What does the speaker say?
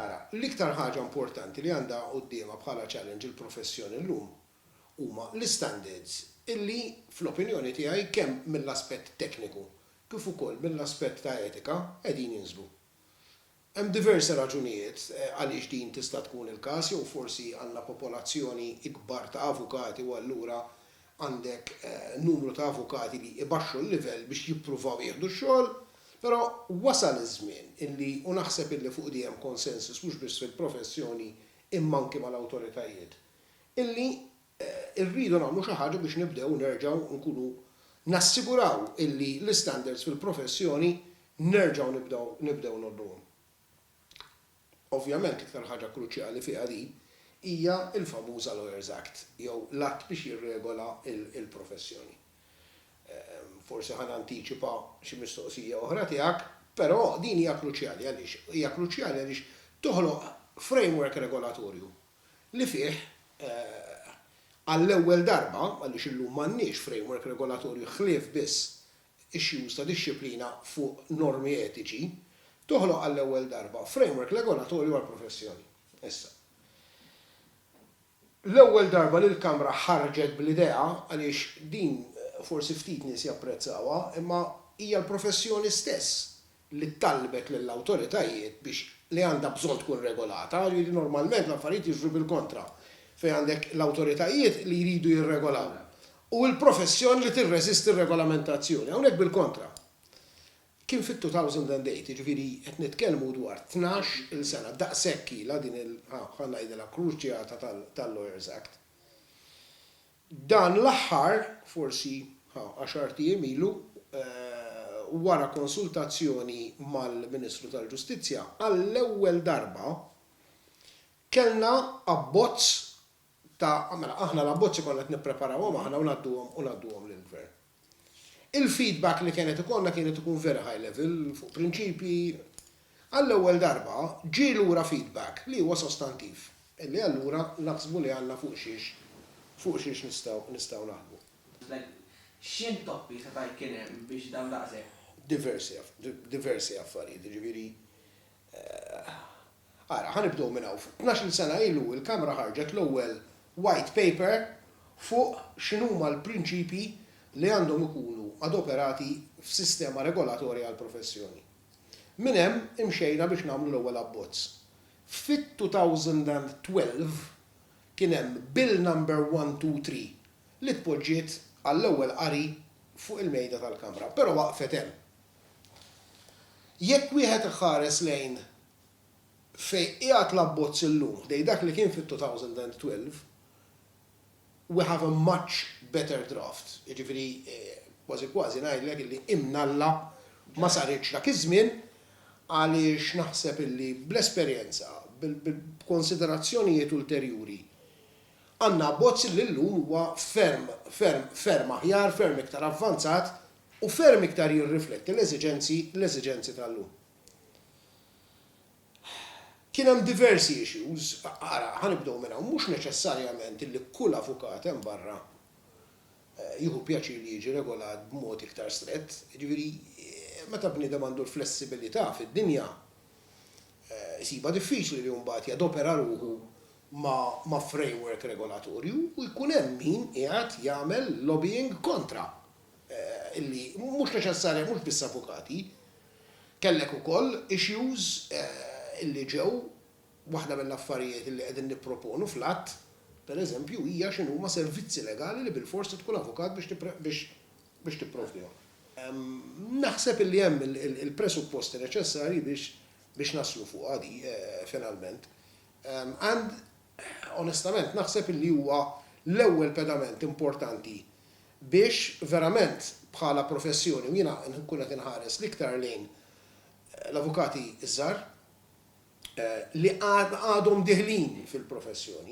Ara, l-iktar ħaġa importanti li għandha quddiemha bħala challenge il-professjoni llum huma l-istandards illi, fl-opinjoni tiegħi, kemm mill-aspett tekniku kif ukoll mill-aspett ta' etika, qegħdin jinżlu. Hemm diversi raġunijiet għaliex din tista' tkun il-każ jew forsi għandna popolazzjoni ikbar ta' avukati u allura Għandek numru ta' avukati li ibaxxu l-livell biex jippruvaw jieħdu x-xogħol, però wasal iż-żmien illi, u naħseb illi fuq di hemm konsensus mhux biss fil-professjoni imma anki mal-awtoritajiet, illi rridu nagħmlu xi ħaġa biex nibdew nerġgħu nkunu nassiguraw illi l-istandards fil-professjoni nerġgħu nibdew nibdew ngħolluhom. Ovvjament l-iktar ħaġa kruċjali fiha din hija l-famuża Lawyers Act jew l-Att biex jirregola l-professjoni. Forsi ħa nantiċipa xi mistoqsija oħra tiegħek, però din hija kruċjali għaliex? Hija kruċjali għaliex toħloq framework regolatorju li fih għall-ewwel darba, għaliex illum m'għandniex framework regolatorju ħlief biss issues ta' dixxiplina fuq normi etiċi, toħloq għall-ewwel darba framework regolatorju għall-professjoni. Issa, l-ewwel darba li l-Kamra ħarġet bl-idea, għaliex din forsi ftit nies japprezzawha, imma hija l-professjoni stess li talbet lill-awtoritajiet biex li għandha bżonn tkun regolata, jiġifieri normalment l-affarijiet jiġru bil-kontra, fejn għandek l-awtoritajiet li jridu jirregolaw u l-professjoni li tirreżisti r-regolamentazzjoni. Hawnhekk bil-kontra. Kien fit-2008, jiġifieri qed nitkellmu dwar tnax il sena, daqshekk ilha din il, ħa ngħidilha, kruċjata tal-Lawyers Act. Dan l-aħħar, forsi għaxart ijiem ilu, wara konsultazzjoni mal-Ministru tal-Ġustizzja, għall-ewwel darba kellna abbozz ta', mela aħna l-abbozzi konna qed nippreparawhom aħna u ngħadduhom u ngħadduhom lill-Gvern. Il-feedback li kienet ikollna kienet ikun very high level fuq prinċipji. Għall-ewwel darba ġie lura feedback li huwa sostantiv, li allura naħsbu li għandna fuq xiex fuq xiex nistgħu nistgħu naħdmu. X'intoppi seta' jkien hemm biex dawn daqshekk? Diversi diversi affarijiet, jiġifieri Ara, ħa nibdew minn hawn. Tnax-il sena ilu l-Kamra ħarġet l-ewwel White Paper fuq x'inhuma l-prinċipji li għandhom ikunu adoperati f'sistema regolatorja għall-professjoni. Minn hemm imxejna biex nagħmlu l-ewwel abbozz. Fit-2012 kien hemm Bill Number 123 li tpoġġiet għall-ewwel qari fuq il-mejda tal-Kamra, però waqfet hemm. Jekk wieħed iħares lejn fejn qiegħed l-abbozz illum ħdejn dak li kien fit-2012, we have a much better draft, jiġifieri kważi kważi ngħidlek illi imnalla ma saritx dak iż-żmien għaliex naħseb illi bl-esperjenza, b'konsiderazzjonijiet ulterjuri, għandna abbozz illi llum huwa ferm, ferm, ferm aħjar, ferm iktar avvanzat u ferm iktar jirrifletti l-eżiġenzi l-eżiġenzi tal-lum. Kien hemm diversi issues, ara, ħa nibdew minn hawn, mhux neċessarjament li kull avukat hemm barra jieħu pjaċir li jiġi regolat b'mod iktar strett, jiġifieri meta bniedem għandu l-flessibilità fid-dinja, isibha diffiċli li mbagħad jadopera ruħu ma' framework regolatorju u jkun hemm min qiegħed jagħmel lobbying kontra. li mhux neċessarja mhux biss avukati, kellek ukoll issues li ġew, waħda mill-affarijiet li qegħdin nipproponu fl-Att, pereżempju, hija x'inhuma servizzi legali li bilfors trid tkun avukat biex tipprovdihom. Naħseb li hemm il-presupposti neċessarji biex naslu fuqha di, finalment. Onestament naħseb illi huwa l-ewwel pedament importanti biex verament bħala professjoni, u jiena nkun qed inħares l-iktar lejn l-avukati ż-żgħar li għadhom diħlin fil-professjoni,